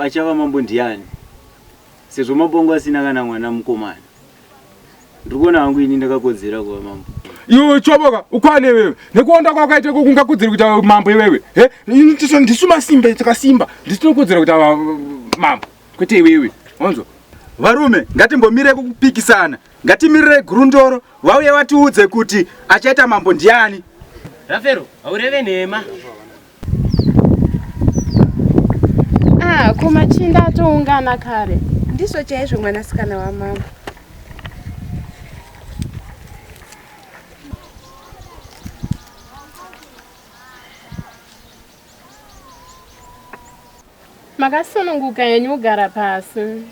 achava mambo ndiani sezvo mabongo asina kana mwana mukomana Ndikuona hangu ini ndakakodzera kuva mambo. Iwe choboka ukwane wewe. Nekuonda kwako aita kukunga kudzira kuti mambo iwewe. He? Ini tiso ndisuma simba takasimba. Ndisino kudzira kuti mambo. Kwete iwewe. Onzo. Varume ngatimbomire kupikisana. Ngatimirire gurundoro vauye vatiudze kuti achaita mambo ndiani. Rafero, haureve nhema. Ah, ko machinda atoungana kare. Ndizvo chaizvo mwanasikana wamambo. Makasununguka henyu kugara pasi.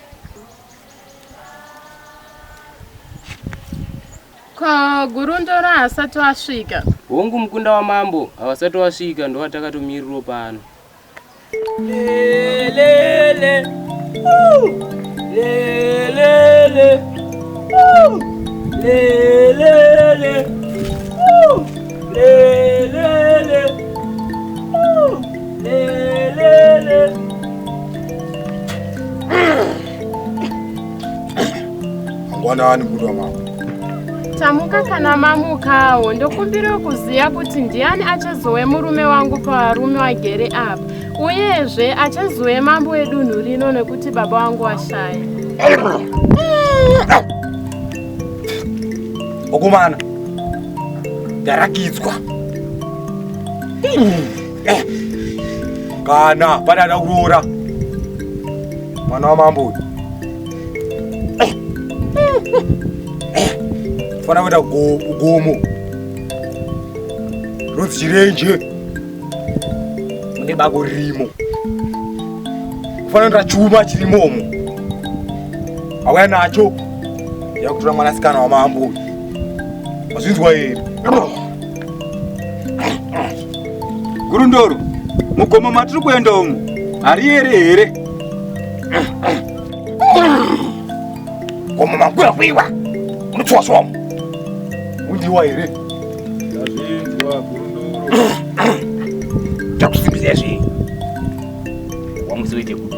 Ko Gurundoro haasati wasvika? Hongu mukunda wamambo havasati wasvika ndovatakatomiriro pano. Lelele. Lelele. Lelele. Lelele. Mwana wani mbudu wa mama. Tamuka kana mamukawo ndokumbira kuziva kuti ndiani achazove murume wangu pavarume wagere apa uyezve achazove mambo wedunhu rino nekuti baba wangu washaya okomana ndarakidzwa kana pane ada kuroora mwana wamambo uyu fana kuita ugomo ronzi chirenje mune bako ririmo kufana kuita chuma chirimomo auya nacho yakutora mwanasikana wamambo uyu mazvinzwa here Gurundoro, mugomo matiri kuenda umu hariyere here? Gomo makura kuiwa unotiwa somo undiwa here? Ndazvinzwa Gurundoro. Takusimbisa zve wamuzoite kuti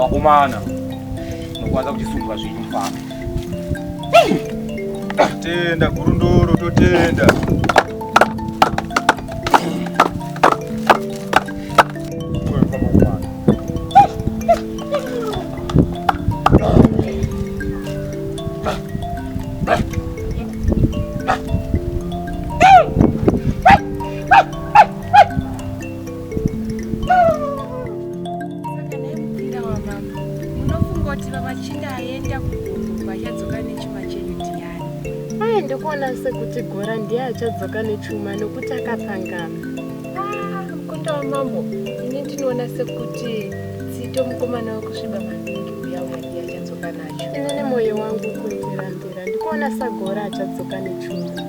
Wakomana nokwanza kuchisungwa zvinhu mfana. Tenda gurundoro totenda. ndikuona sekuti gora ndiye achadzoka nechuma nokuti akapangama ah, mukunda wamambo ini ndinoona sekuti tsito mukomana wekusviba maningi uya uya ndiye achadzoka nacho ini nemoyo wangu kuitirambira ndikuona sagora achadzoka nechuma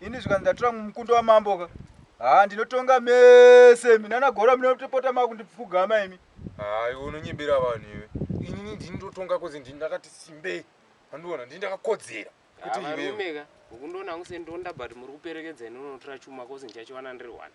Ini zvikanzi ndatora mukundo wamambo ka. Haa ndinotonga mese imi nana gora munotopota makundipfugama imi. Haa iwe unonyebera vanhu iwe. Inini ndini ndotonga kozi ndini ndakati simbei. Andiona ndini ndakakodzera. Kuti iwe. Varume ka. Ukundoona kunge ndonda but muri kuperekedza ini unotora chuma kozi ndichachiwana ndiri one.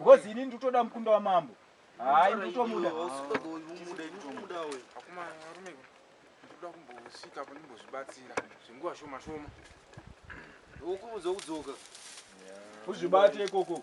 Ngozi ini ndutoda mukunda wa mambo. Hayi ndutomuda. Ndoda kumbosvika apo ndimbozvibatsira zvenguva shoma shoma. Ukubudza kudzoka. Uzvibate ikoko.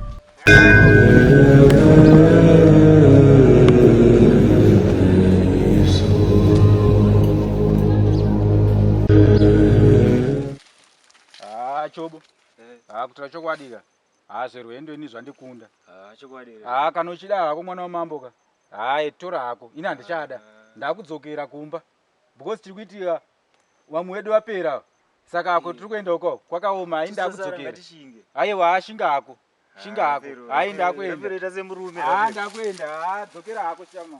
chobo haa kutira chokwadi ka haa zverwendo ini zvandikunda haa kana uchida hako mwana wamambo ka haa tora hako ini handichada ndakudzokera kumba because tiri kuitika Vamwe wedu vapera ava. Saka ako tiri kuenda uko kwakaoma hayi ndakudzokera. Haiwa haa shinga hako. Shinga hako. Hayi ndakuenda. Haa ndakuenda haa dzokera hako chama.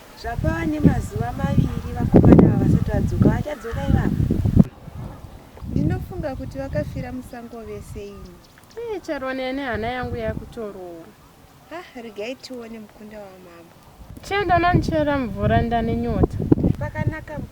Zvapava nemazuva maviri vakomana ava vasati vadzoka. Vachadzoka ivava. Ndinofunga kuti vakafira musango vese ini. Ee eh, Charwa nene hana yangu yakutorowa. Ah, regai tione mukunda wamambo. Chenda nanichera mvura ndane nyota. Pakanaka mukunda.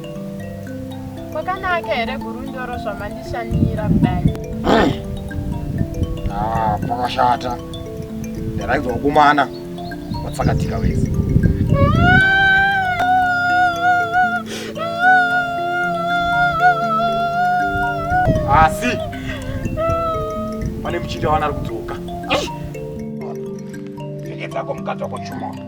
Kwakanaka here gurundoro zvamandishandira kudai? Ah, pakashata. Ndaraigwa kumana. Watsakatika wese. Asi pane muchinda wana ari kudzoka. Ndege dzako mukadzi wako chuma.